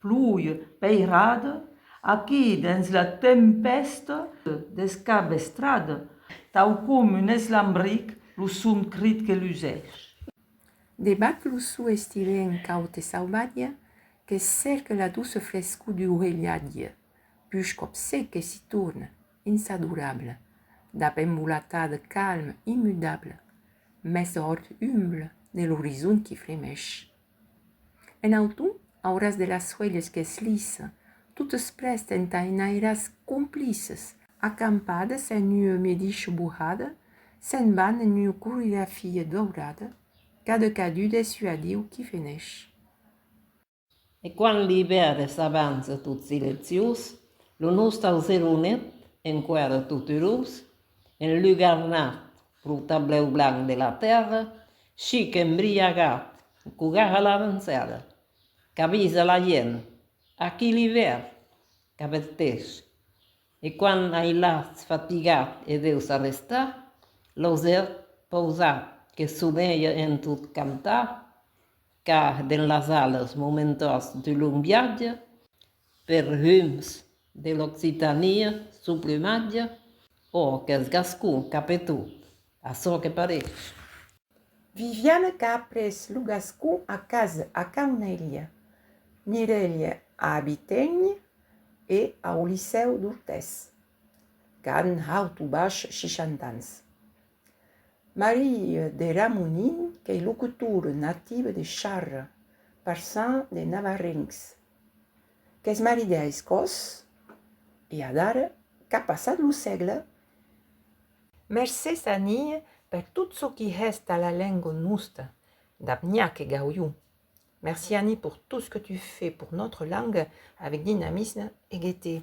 Plui peirad, aquí dens la tempèsta descabestrad. Tau com un eslambric lo son crit que lusèsh. Debat lo so estivèn caud e sauvatge que cèrque la douce frescor duu relhatge, push còp sec e si torn, insadorable, dab embolatad calm immudable, mès hòrt humble de l'orizon qui fremèsh. En auton, auras de las suelhes qu'es lis. Totes prest entà enairas complices. Acampades en ua medicho bohada, se'n van en ua coregrafia daurada, cada cadun es ua diu qui veneish. E quand l'ivèrn s'avança tot silenciós, lo nostau zeronet, enquara tot erós, en lugarnat Lo tablèu blanc de la tèrra, chic embriagat, cogar a l'avançada, qu'avisa la gent, aquí l'ivèrn! Qu'avertís. E quan ailhatz fatigat e deus arrestar, l'auser pausat que soneja en tot cantar, Car dens las alas momentós de long viatge per rums de l'Occitania suplumatge, ò qu'es gascon cap e tot, açò que parèish. Viviane qu'a après lo gascon a cas a Caunelha, Mirelhe a Abiténh e au Licèu d'Ortès. qu'an haut o baish 60 ans. Marie de Ramonin qu'ei locutora nativa de Charra, parçan de navarrencs, qu'es marida a Escòs e adara qu'a passat lo sègle. Mercés Annie per tot çò qui hèst a la lengua nosta, dab Niac e Gaulliu. Merci Annie pour tout ce que tu fais pour notre langue avec dynamisme et gaieté.